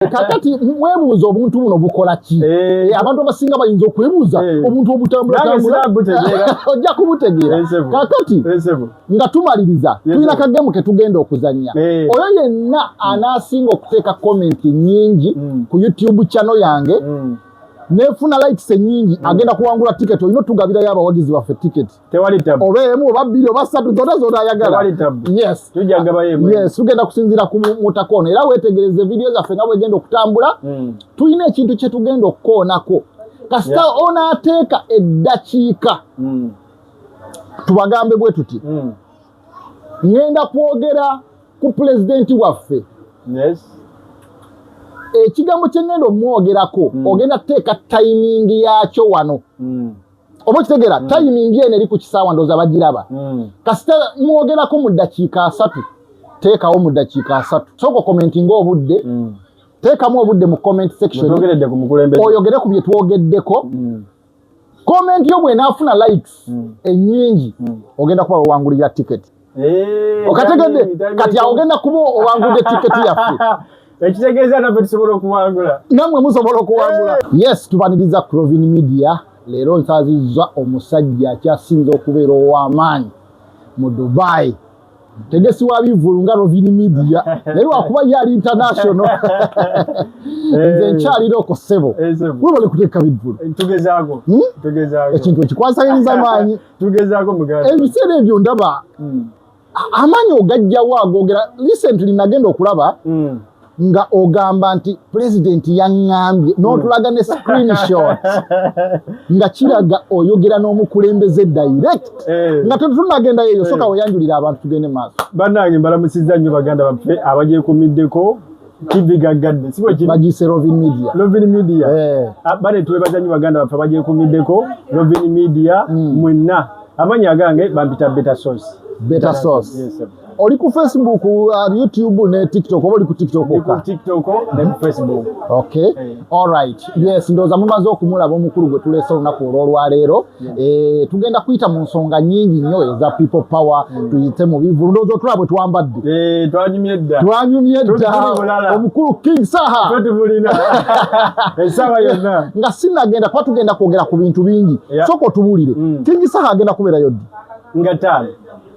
kakati mwebuuza obuntu buno bukola ki eh. Eh, abantu abasinga bayinza okwebuuza eh. obuntu obutambulaojja kubutegeera kakati nga tumaliriza tulina kagemu ketugenda okuzannya oyo yenna anaasinga okuteeka komenti nyingi mm. ku youtube chano yange mm. nefuna likes enyingi mm. agenda kuwangula ticket olina otugabirayo abawagizi baffe ticket tewali tabu oba emu oba bbiri oba ssatu zona zona ayagala tewali tabu yes tujja gaba yemu yes tugenda kusinzira ku mutaka ono era weetegereze vidiyo zaffe nga bwegenda okutambula mm. tulina ekintu kye tugenda okukoonako kasita yeah. onaateeka eddakiika mm. tubagambe bwe tuti mm. ŋenda kwogera ku pulezidenti waffe yes ekigambo kye ŋenda omwogerako mm. ogenda teeka tayimingi yaakyo wano mm. oba okitegera mm. timing eno eri ku kisaawa ndooza bagiraba mm. kasita mwogerako mu ddakiika asatu teekawo mu ddakiika asatu sooka okomenti ngaobudde mm. teekamu obudde mu comment section oyogere ku bye twogeddeko mm. komenti yo bwenaafuna likes mm. ennyingi mm. ogenda kuba wewangulira ticket Eh, Okategedde kati awo genda kuba owangudde tiketi yaffe. Ekitegeeza naffe tusobola okuwangula. Namwe musobola okuwangula. Eh. Yes, tubaniriza Crovin Media. Leero nsazizza omusajja akyasinze okubeera ow'amaanyi mu Dubai. tegesi wa bivulu nga rovini media naye lwakuba ye ali international eh. nze nkyalira oko sebo webale kuteeka bivulu eh, hmm? ekintu ekikwasagiriza maanyi tugezaako muganda ebiseera ebyo ndaba hmm. amaanyi ogajjawo agogera recently nagenda okulaba hmm. nga ogamba nti pulezidenti yaŋŋambye n'otulaga ne screenshot nga kiraga oyogera n'omukulembeze direct eh. nga tetunagenda yeyo soka eh. weyanjulira abantu tugende maaso bannange mbalamusizza nnyo baganda baffe abagyekumiddeko TV gaggadde si bwe kiri bagiyise Lovin Media Lovin Media eh ah, bale twebaza nnyo baganda baffe bagyekumiddeko Lovin Media mm. mwenna amanya agange bampita Beta Sauce Beta Sauce yes sir oli ku facebook uh, youtube ne tiktok oba oli ku tiktok yes ndoza mumaze okumulaba omukulu gwe tulese olunaku olwolwaleero Eh, tugenda kuyita mu nsonga nyingi nnyo eza people power mm. tuyite mu bivulu ndowooza otulaba bwe twambadde eh, twanyumye dda twanyumye dda omukulu king saha tubulina esaawa yonna nga sinagenda kuba tugenda kwogera ku bintu bingi sooka otubulire mm. king saha agenda kubeerayo ddi nga taano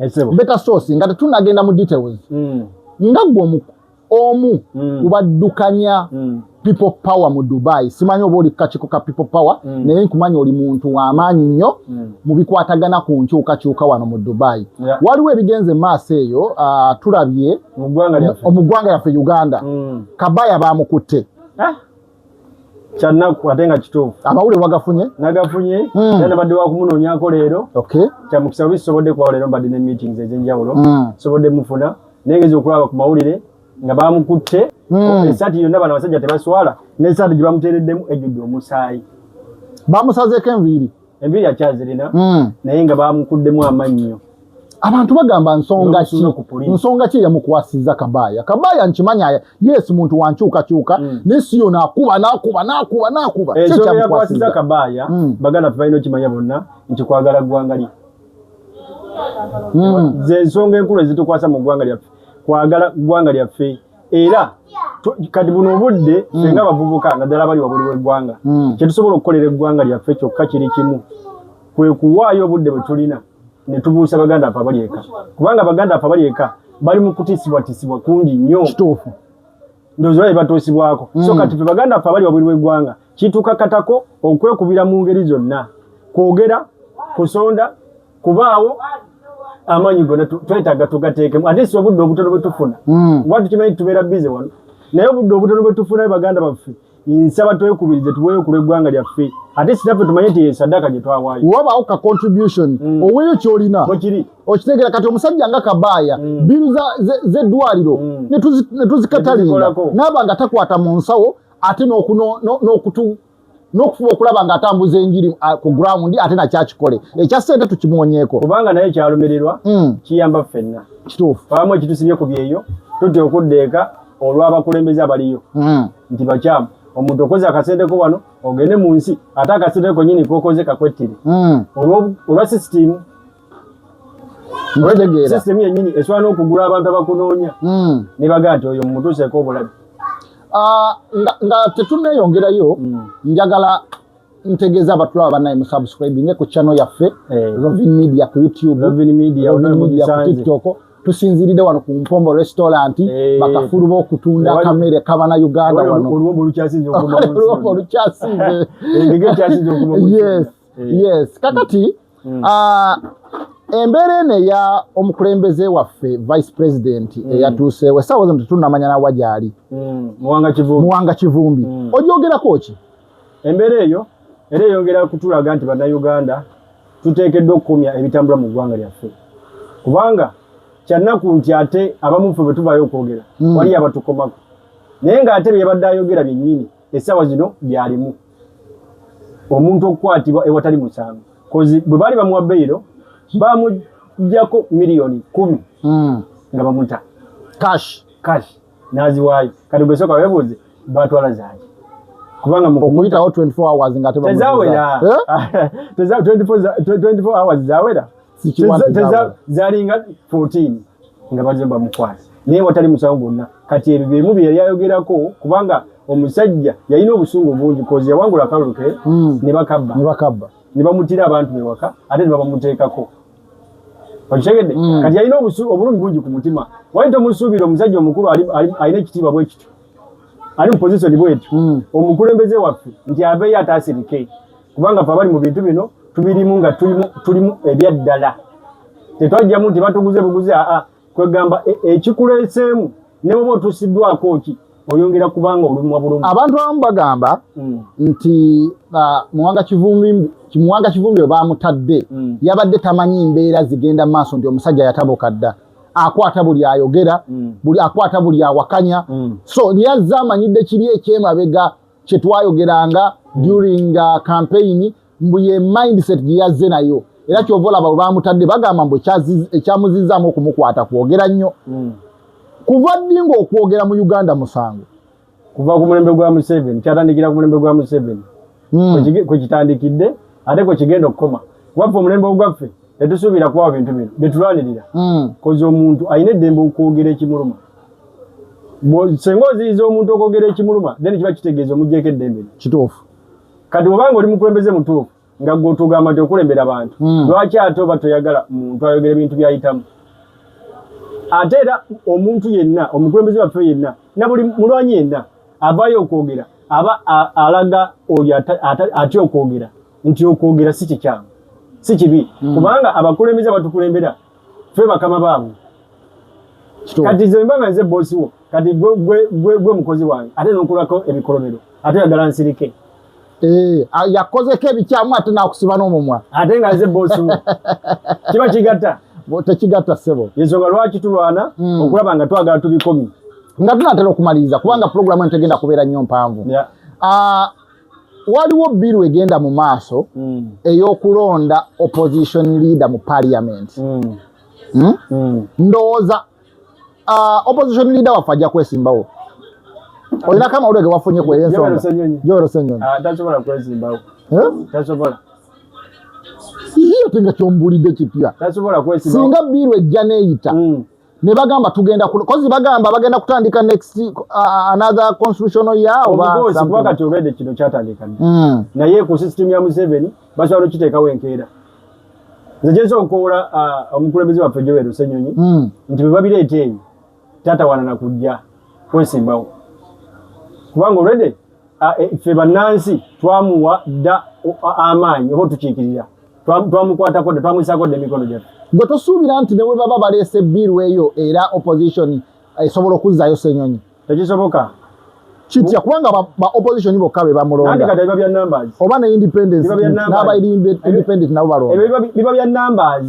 Esebo. Eh, Better source nga tetunagenda mu details. Mm. Nga gwo omu omu mm. kubaddukanya mm. people power mu Dubai. Simanyi oba oli kakiko ka people power mm. naye nkumanyi oli muntu wa maanyi nnyo mm. mu bikwatagana ku nkyukakyuka wano mu Dubai. Yeah. Waliwo ebigenze maaso eyo uh, tulabye mu ggwanga lyaffe Uganda. Mm. Kabaya baamukutte. Ah. kyannaku ate nga kituufu amawulire wagafunye nagafunye hmm. era nabadde wakumunoonyako leero kyamukisa bubi sisobodde kubawo leero mbadde ne meetings ez'enjawulo hmm. sobodde mufuna naye ngezi okulaba ku mawulire nga bamukutte hmm. esaati yonna bano abasajja tebaswala n'esaati gye bamuteereddemu ejjudde omusaayi bamusazeeko enviiri enviri akyazirina hmm. naye nga bamukuddemu amannyo abantu bagamba nsonga ki nsonga ki eyamukwasiza kabaaya kabaaya nkimanya yes muntu wankyukakyuka hmm. naye si yona akuba nakuba nakuba nakuba eh, kyeyamukwasiza kabaaya hmm. baganda fe balina okimanya bonna nti kwagala ggwanga lye zensonga enkulu ezitukwasa mu ggwanga lyaffe kwagala ggwanga lyaffe era kati buno obudde mm. senga abavubuka naddala abali wabuli w'eggwanga mm. kyetusobola okukolera eggwanga lyaffe kyokka kiri kimu kwe kuwaayo obudde bwe tulina ne tubuusa baganda afe abali eka kubanga baganda afe abali eka bali mu kutiisibwatiisibwa kungi nnyo kituufu ndowooza bali batuusibwako mm. so kati fe baganda afe abali wabuli w'eggwanga kituukakatako okwekubira mu ngeri zonna kwogera kusonda kubaawo amaanyi gona twetaaga tugateekemu ate si obudde obutono bwe tufuna hmm. kuba tukimanyi tutubeera bize wano naye obudde obutono bwe tufunayo baganda baffe nsaba twekubirize tuweeyo ku lw'eggwanga lyaffe ate sinaffe tumanye nti esaddaaka gye twawaayo wabaawo ka contribution mm. oweeyo kyolina okiri okitegeera kati omusajja nga kabaaya mm. bbiru z'eddwaliro mm. ne tuzikatalinga n'aba nga takwata mu nsawo ate n'okutu n'okufuba okulaba ng'atambuza enjiri ah, ku ground ate nakyakikole ekya ssente tukimuwonyeeko kubanga naye kyalumirirwa hmm. kiyamba ffenna kituufu abamu ekitusibye ku byeyo tutya okudda eka olw'abakulembeze abaliyo hmm. nti bakyamu omuntu okoze akasenteko wano ogende mu nsi ate akasenteko nyini kokoze kakwettire hmm. olwa sisitimu sisitemu yennyini esobola n'okugula abantu abakunoonya hmm. ne baga nti oyo mumutuuseeko obulabi ah, nga tetuneeyongerayo hmm. njagala ntegeeza abatulaba banaye musubscribinge ku channel yaffe eh. rovin media ku youtubetiktok tusinziride wano ku mpombo restaurant eh. bakafulu bokutunda kamere kabana uganda wano olwombo olukyasinze mm. yes kakati mm. uh, embeera eno eya omukulembeze waffe vice president mm. eyatuuseewo esaawa zino tetunamanya nawa gyali mm. muwanga kivumbi mm. ojogerako ki embeera eyo era eyongera kutulaga nti bannayuganda tuteekeddwa okukomya ebitambula mu ggwanga lyaffe kubanga kyannaku nti ate abamuffe bwe tuvaayo okwogera mm. waliyo abatukomako naye ng'ate bye yabadde ayogera byennyini essaawa zino byalimu omuntu okukwatibwa ewatali musango kozi bwe baali bamuwa beyiro bamujjako miliyoni kumi hmm. nga bamuta cash cash naziwaayo kati gwesooka webuuze batwala zaaki kubanga okuyitawo 24 hours nga tezawera eh? teza 24 hours zawera zalinga 14 nga bazze bamukwasa naye watali musango gwonna kati ebyo byemu bye yali ayogerako kubanga omusajja yalina obusungu bungi kozi yawangula akalulu ke hmm. ne bakabba ne bakabba ne bamutira abantu bewaka ate ne babamuteekako okitegedde hmm. kati yalina obulumi bungi ku mutima wali tomusuubira omusajja omukulu alina ekitiibwa bwe kityo ali mu pozisoni bwetu hmm. omukulembeze waffe nti aveeyo ataasirike kubanga fe abali mu bintu bino tubirimu nga tulimu ebyaddala tetwajjamu nti batuguze buguzi aa kwegamba e, ekikuleeseemu ne bwoba otusiddwako ki oyongera kubanga olumwa bulumi abantu abamu bagamba hmm. nti muwanga kivumbi muwanga kivumbi we bamutadde hmm. yabadde tamanyi mbeera zigenda mu maaso nti omusajja yatabuka dda akwata buli ayogera hmm. buli akwata buli awakanya so lyazze amanyidde kiri ekyemabega kyetwayogeranga hmm. during uh, campaign mbu ye mindset gyeyazze nayo era kyova olaba webamutadde bagamba mbu ekyamuzizamu okumukwata kwogera nnyo hmm. kuva ddi ngaokwogera mu uganda musango kuva ku mulembe gwa museveni kyatandikira ku mulembe gwa museveni hmm. kwekitandikidde ate kwekigenda okukoma kubaffe omulembe ogwaffe tetusuubira kubawa bintu bino byetulwanirira kozi omuntu alina eddembe okwogera ekimuluma senga oziyiza omuntu okwogera ekimuluma then kiba kitegeeza omugyeko eddembe kituufu kati obanga oli mukulembeze mutuufu nga gwe otugamba nti okulembera bantu hmm. lwaki ate oba toyagala muntu ayogera ebintu byayitamu ate era omuntu yenna omukulembeze waffe yenna nabuli mulwanyi yenna avayo okwogera aba alaga oyo atya okwogera nti okwogera si kikyamu si kibi hmm. kubanga abakulembeze abatukulembera ffe bakama baabwe kati nze mba nga nze bosi wo kati gwe mukozi wange ate nokulako ebikolobero ate oyagala nsirike eh, yakozeko ebikyamu ate nakusiba n'omumwa ate nga nze bosi wo kiba kigatta tekigatta ssebo ensonga lwaki tulwana hmm. okulaba nga twagala tubikomi nga tunatera okumaliriza kubanga pulogulamu entegenda kubeera nnyo mpanvu ah, waliwo bbiru egenda mu maaso mm. ey'okulonda opposition leader mu parliament mm. Hmm? Mm. ndowooza uh, opposition leader waffe ajja kwesimbawo olina kama olwege wafunye kweyo ensonga jorosenyoni ah, tasobola kwesimbawo tasobola iyo tinga kyombulidde kipya singa bbiru ejja neeyita hmm. ne bagamba tugenda ku kozi bagamba bagenda kutandika next uh, another constitutional year oba obugozi kuba kati obede kino kyatandika mm. naye ku system ya Museveni basobola okiteeka wenkeera nze gyenza okukowola uh, omukulembeze waffe Joel Ssenyonyi mm. nti bwe babireeta eyo tatawana na kujja kwesimbawo kubanga olwede uh, e, ffe bannansi twamuwa dda uh, amaanyi oba otukiikirira twamukwatako dda twamuyisako dda emikono gyaffe gwe tosuubira nti ne bwe baba baleese biiru eyo era opposition eh, esobola okuzzaayo senyonyi tekisoboka kitya kubanga ba opposition bokka be bamulonda oba ne independence n'aba independent nabo balonda biba bya numbers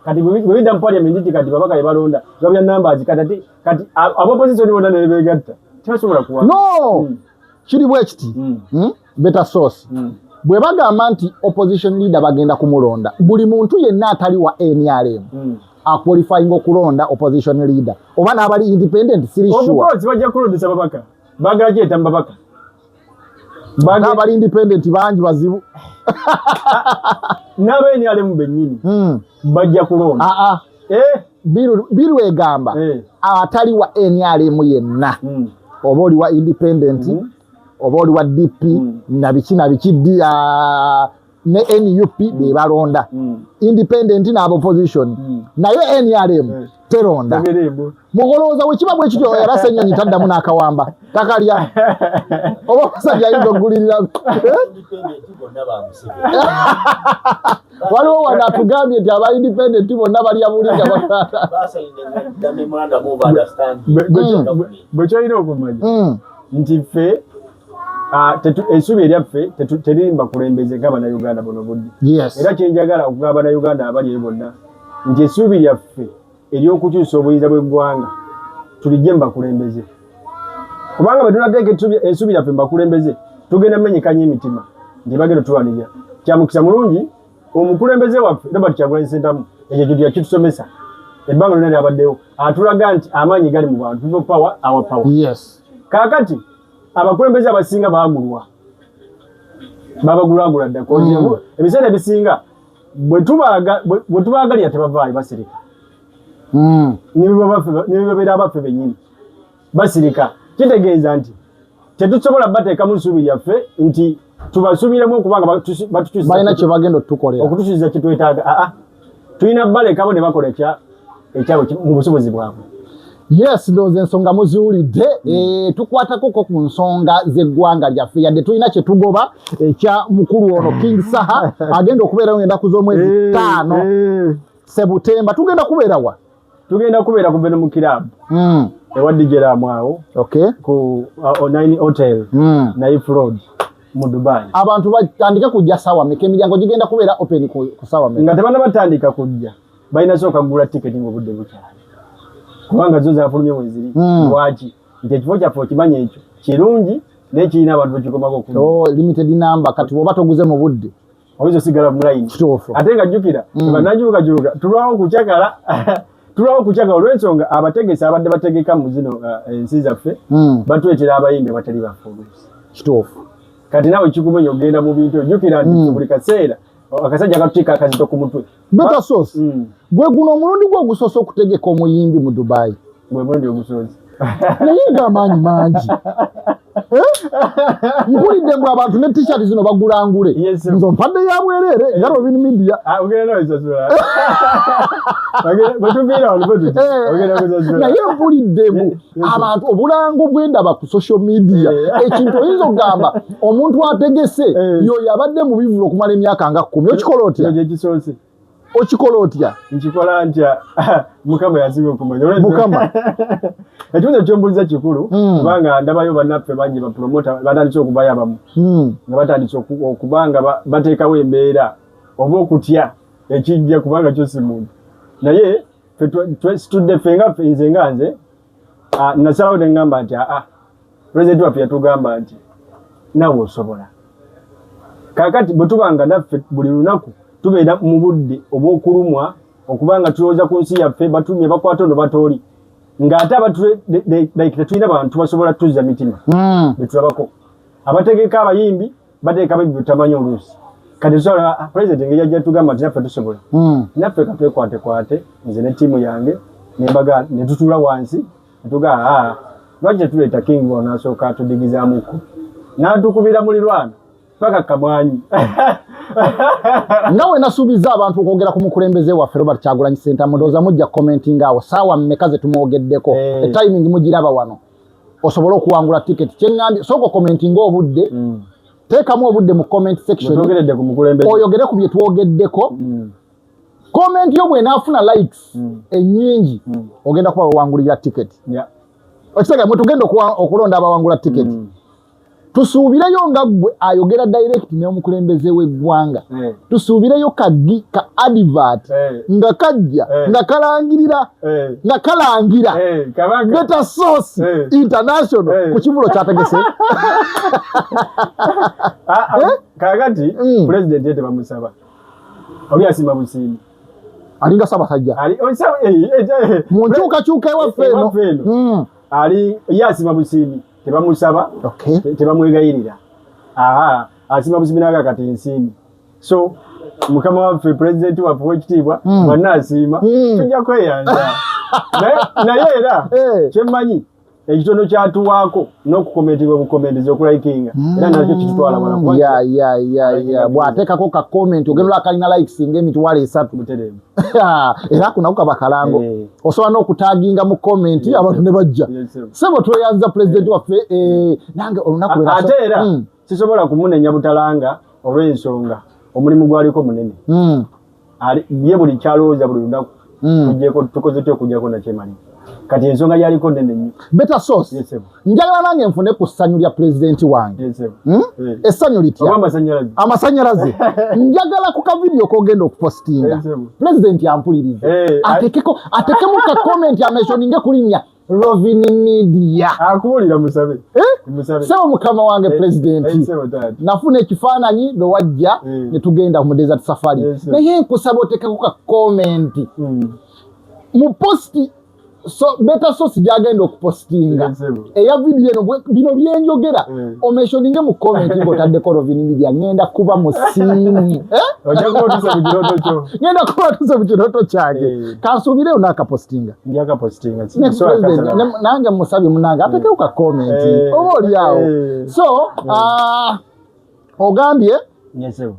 kati bwebidda mu parliament nti kati babaka bebalonda biba bya numbers kati kati aba opposition bona nebegatta tebasobola kuwa no hmm. kiri bwekiti hmm. hmm? beta source mm. bwe bagamba nti opposition leader bagenda kumulonda buli muntu yenna atali wa nrm mm. aqualifying okulonda opposition leader oba n'abali independent siri sureomukozi bajja kulondesa babaka bagala gyeta mubabaka n'abali independent bangi bazibu n'aba nrm bennyini mm. bajja kulonda aa ah, ah. eh? biru egamba eh. atali wa nrm yenna mm. oba oli wa independent mm. oba oli wa dp mm. nabiki nabiki ah, ne nup mm. bebalonda mm. independent naaba opposition mm. naye nrm mm. teronda mukolowooza wekiba bwe kityo era senyonyi taddamu n'akawamba takalya oba omusajja ayinza okugulirira waliwo wano atugambye nti aba independent bonna balya buli nga bakaata bwekyolina okumanya nti ffe Ah, ensubi eryaffe teririmba kulembeze nga banauganda buno budde era kyenjagala okugaa banauganda abali eyo bonna nti esuubi lyaffe eryokukyusa obuyinza bweggwanga tulijje mubakulembeze kubanga bwetunateeka ensubi yaffe mubakulembeze tugenda menyekanya emitima nti bagenda tulwanirira kyamukisa mulungi omukulembeze waffe robert kyagulanyi sentamu ekyo kintu yakitusomesa ebbanga lyona lyabaddewo atulaga nti amaanyi gali mu bantu people power our power yes kaakati abakulembeze abasinga baagulwa babagulagula dda mm. ebiseera ebisinga bwetubaagalira tebavaayo basirika mm. nibebabeera abaffe bennyini basirika kitegeeza nti tetusobola bateekamu nsuubi yaffe nti tubasuubiremu okuba nga batubalina kyebagenda otutukolera okutusuubiza kyetwetaaga aa ah, ah. tulina balekabo ne bakola ekya ekyabwe mu busobozi bwabwe yes doze ensonga muziwulidde mm. eh, tukwatakoko ku nsonga z'eggwanga lyaffe yadde tulina kyetugoba ekya eh, mukulu ono mm. king saha agenda okubeerawo endaku z'omwezi eh, ttaano sebutemba tugenda kubeerawa tugenda kubeera ku Venom Club mm. ewa DJ Ramu awo okay. ku uh, Online Hotel mm. na If Road mu Dubai. Abantu batandika kujja sawa meka emiryango gigenda kubeera open ku, ku sawa meka. Nga tebana batandika kujja balina sooka kugula tiketi ng'obudde bukyali kubanga zo zafulumye weziri mm. lwaki nti ekifo kyaffe okimanya ekyo kirungi naye kirina abantu bekikomako oku oh, limited number kati woba toguze mu budde oyinza osigala mulayini ate nga jjukira mm. banajukajuluka tulwawo kucakala tulwawo kucakala olwensonga abategesi abadde bategeka mu zino uh, ensi zaffe mm. batuletera abayimbi abatali bafulusi kituufu kati nawe kikubonya okugenda mu bintu ojjukira nti mm. buli kaseera akasajja katuteeka akazito ku mutwe Beta sauce. Mm. Gwe guno omulundi gwo gusoso okutegeka omuyimbi mu Dubai. Gwe mulundi ogusozi. Naye nga amaanyi mangi. Eh? Mpulidde mbu abantu ne t-shirt zino bagulangule. Yes, Nzo mpadde ya bwerere eh. ngalo bini media. Ah, ugera no isasula. Ugera, batuviira olubodi. Ugera kuzasula. Naye mpulidde mbu. Eh. abantu obulango bwendaba ku social media eh. ekintu oyinza okugamba omuntu ategese eh. yoyo abadde mu bivulu okumala emyaka nga kumi okikola otya okikola otya nkikola ntya mukama yasinga okumanya mukama ekibuzo kyombuliza kikulu hmm. kubanga ndabayo banaffe bangi bapromota batandise okubayo abamu hmm. nga batandise okubanga bateekawo embeera oba okutya ekijja kubanga kyosi muntu naye twesitudde ffe nga ffe nze nga nze ah, nasalawo ne ŋŋamba nti aa pulezidenti waffe yatugamba nti nawe osobola kakati bwe tuba nga naffe buli lunaku tubeera mu budde obw'okulumwa okuba nga tulowooza ku nsi yaffe batumye bakwata ono batooli ng'ate abatulike tetulina bantu basobola tuzza mitima hmm. betulabako abategeka abayimbi bateeka bejju tamanyi oluusi kati tusobola ah, president engeri yajja tugamba nti naffe tusobola hmm. naffe katwekwatekwate nze ne tiimu yange nembaga ne tutuula wansi netugaa ah, lwaki tetuleeta king onasooka atudigizaamukko n'atukubira mulirwana paka kamwanyi nga wenasuubiza abantu okwogera ku mukulembeze waffe robert kyagulanyi sentamu ndowooza mujja commentinga awo saawa mmeka ze tumwogeddeko hey. Eh. etiming mugiraba wano osobole okuwangula tiketi kyeŋambye sooka okomenti nga obudde mm. teekamu obudde mu comment section oyogere ku bye twogeddeko mm. komenti yo bwenaafuna likes mm. ennyingi ogenda kuba wewangulira tiketi okitegeera mwetugenda okulonda abawangula tiketi tusuubireyo nga ggwe ayogera direct n'omukulembeze w'eggwanga eh. tusuubireyo kaggi ka advert eh. nga kajja eh. nga kalangirira nga kalangira beta source international ku kivulo kyategese ah, ah, kakati mm. pulezidenti ye tebamusaba oli asima busiimi alinga sabasajja oh, mu nkyukakyuka ewaffe eno mm. ali ye asima busiimi tebamusaba okay. tebamwegayirira aha asima buzibi naga kati nsimbi so mukama waffe pulezidenti waffe wekitiibwa mm. wanna asiima mm. tujja kweyanja naye era eh. kyemmanyi ekitono kyatuwaako n'okukomentibwa bukomenteza okulayikinga hmm. era nakyo kitutwala bwanakuwa bw'ateekako ka komenti ogenda olakalina likes ng'emitwalo esatu era kunako kaba kalango eh. osobola n'okutaginga mu komenti abantu ne bajja sebo tweyanza pulezidenti waffe eh, nange olunaku ate era hmm. sisobola kumunenya butalanga olw'ensonga omulimu gwaliko munene hmm. ye buli kyalowooza buli lunaku hmm. tugyeko tukoze ty okujjako nakyemalira kati ensonga yaliko nene nnyo beta source yes, njagala nange nfune ku ssanyu lya pulezidenti wange hmm? eh. essanyu litya amasanyalaze njagala ku kavidiyo kogenda okupositinga pulezidenti ampulirize eh, atekeko atekemu ka komenti ameshoninge kulinya rovini midia akuwulira musabe eh? sebo mukama wange pulezidenti nafuna ekifaananyi lwe wajja ne tugenda mu desert safari naye nkusaba otekeko ka komenti hmm. mu posti so beta sosi gyagenda okupostinga eya vidiyo eno bino byenjogera eh. omeshoninge mu komenti ngaotaddeko rovini midia ngenda kuba musiimu eh? ngenda kuba tuse mu kirooto kyange eh. kansuubireyo nakapostinga nange musabi munange atekeuka komenti oba olyawo so ah, ogambye nyesebo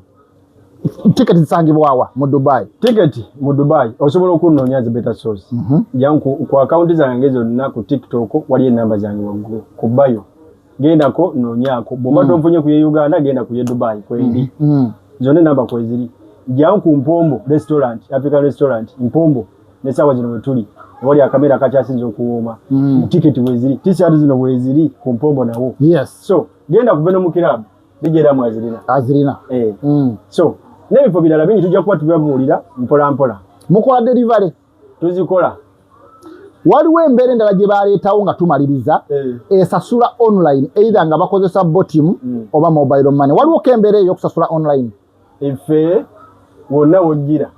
tiketi zisangibwawa mu dubai tiketi mu dubai osobola okunoonya zi beta source mm -hmm. yanku ku akawunti zange zonna ku tiktok waliyo enamba zange waggulu ku bayo gendako noonyako bwoba mm. tonfunye ku ye uganda genda ku ye dubai kwendi mm. mm. zonna enamba kweziri janku mpombo restaurant african restaurant mpombo nesaawa zino wetuli wali akamera akakyasinza okuwooma mm. tiketi weziri tisati zino weziri ku mpombo nawo yes. so genda kuve no mukirabu bijera mu azirina azirina eh mm. so n'ebifo birala bingi tujja kuba tubibabuulira mpola mpola mukola delivery tuzikola waliwo embeera endala gye baleetawo nga tumaliriza eh. esasula online either nga bakozesa botim mm. oba mobile money waliwo ko embeera eyo okusasula online efe wonna wojjira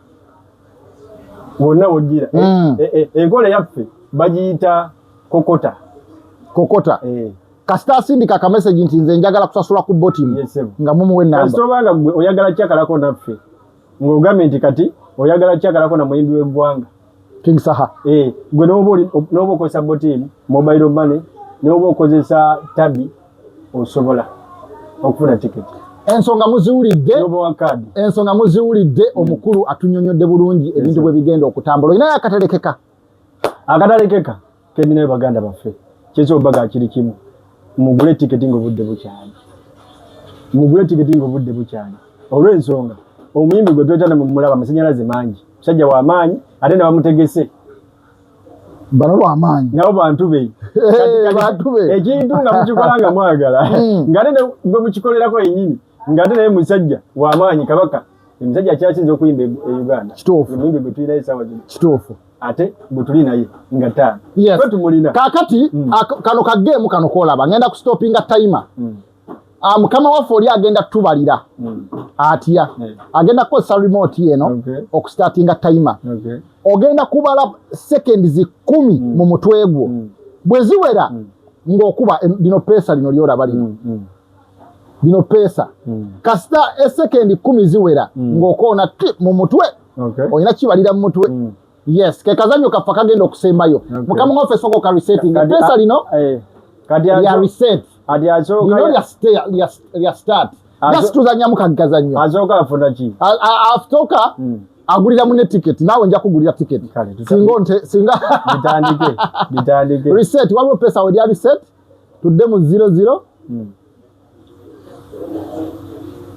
wonna wojjira e, mm. e, e, enkola yaffe bagiyita kokota kokota eh. kasita asindika akameseji nti nze njagala kusasula ku botimu nga mumuwe nambakasitobanga gwe oyagala kyakalako naffe ng'ogambye nti kati oyagala kyakalako na muyimbi w'eggwanga King Saha. Eh, gwe nobo nobo ko sabotin mobile money nobo ko zesa tabi osobola okufuna ticket. Ensonga muziwulidde ensonga muziwulidde mm. omukulu atunyonyodde bulungi ebintu bwe bigenda okutambula olina akatalekeka akatalekeka Kendinayo baganda baffe kyekyo obaga kiri kimu mugule tiketi ng'obudde bukyali mugule tiketi ng'obudde bukyali olw'ensonga omuyimbi gwe tweta ne mumulaba amasanyalaze mangi musajja wa maanyi ate nabamutegese bano bamaanyi nabo bantu be ekintu nga mukikola nga mwagala hmm. ngate gwe mukikolerako yenyini ngate naye musajja wamaanyi kabaka Emisajja kyasinze okuyimba e Uganda. Kituufu. Emuyimbi gwe tulina esaawa zino. Kituufu. Ate gwe tuli naye nga taano. Yes. Kwe tumulina. Kakati mm. kano ka game kano kolaba ngenda ku stoppinga timer. Mm. Ah, mukama waffe oli agenda tubalira mm. atya yeah. agenda kukozesa remote yeno okay. okustatinga timer okay. ogenda kubala seconds kumi mm. mu mutwe gwo mm. bwe ziwera mm. ng'okuba eh, lino peesa lino lyolaba lino mm. mm. bino peesa mm. kasita esekendi kumi ziwera mm. ng'okoona ti mu mutwe okay. olina kibalira mu mutwe mm. yes kekazanyo kaffe kagenda okusembayo okay. mukama ngaffe soka okaresetting peesa lino eh, lya reset lino lya start nasi tuzanyamu kagazanyo afutoka mm. agulira mune tiketi naawe nja kugulira tiketi singa nte singa waliwo peesa we lya reset tudde mu zero zero hmm.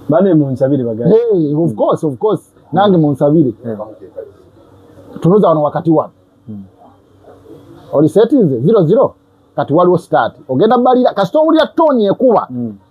bane munsabire bagala hey, of course of course nange munsabire hmm. tunoza wano wakati wano hmm. oli setinze zero zero kati waliwo start ogenda balira kasita owulira toni ekuba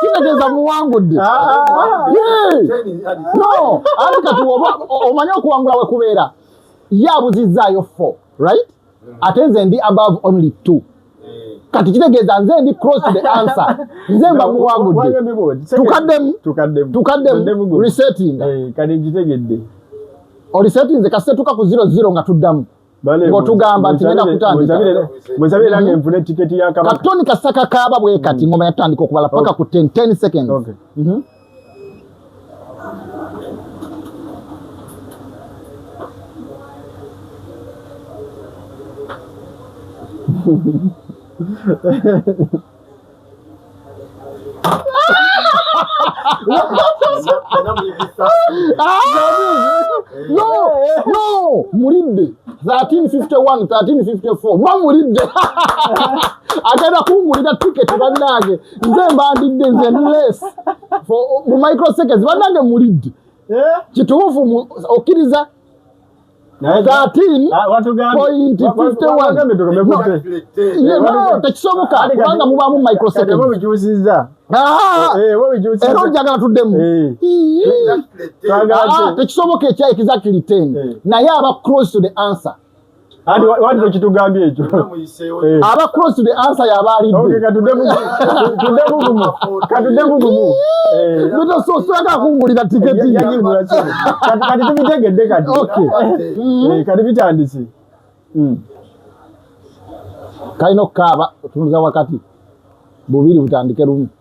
kitegeeza muwangudde no anti kati omanyi okuwangula we kubeera ye abuzizzaayo fo right ate nze ndi above only two kati kitegeeza nze ndi cross the answer nze mba muwangudde tukaddemu tukaddemu resetting eh, kati nkitegedde orisettinze kasitetuka ku zero zero nga tuddamu ng'otugamba nti ngenda kutandikamusabire nange nfune tiketi ya kabaka katoni kasaka kaaba bwe kati ngoma yatandika okubala paka ku 10 10 seconds okay. mm -hmm. Ha ha ha. mulidde 1351 ba mulidde agenda kungulira tiketi bannange nze mbandidde nze nles mu microseconds bannange mulidde eh? kituufu okkiriza tekisoboka kubanga mubaamu microsecondsera ojagala tuddemu tekisoboka ekya exactly ten naye aba close to the answer wandikitugambye ekyo Eh. aba cross to the answer yabalidde okay, katudde bugumu katudde bugumu eh. bito so saka kungulira tiketi yagigula kino kati kati tubitegedde kati okay eh, mm-hmm. kati bitandise mm. kalina okukaaba otunza wakati bubiri butandike lumu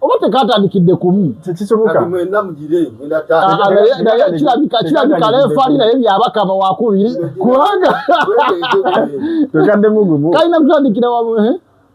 oba tekatandikidde kumukirabika lefali naye byabakama wakubiri kubanga kalina kutandikira wamu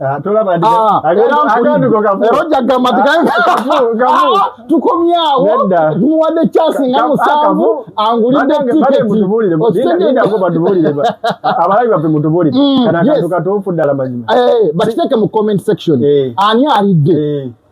Ah, ah, ah, tukomyawo tumuwadde kyasi nga musanvu angulidde tiketiabalabi baffe mutubulire kanakantu katuufu ddala mazima bakiteeke mu comment section eh. ani alidde eh.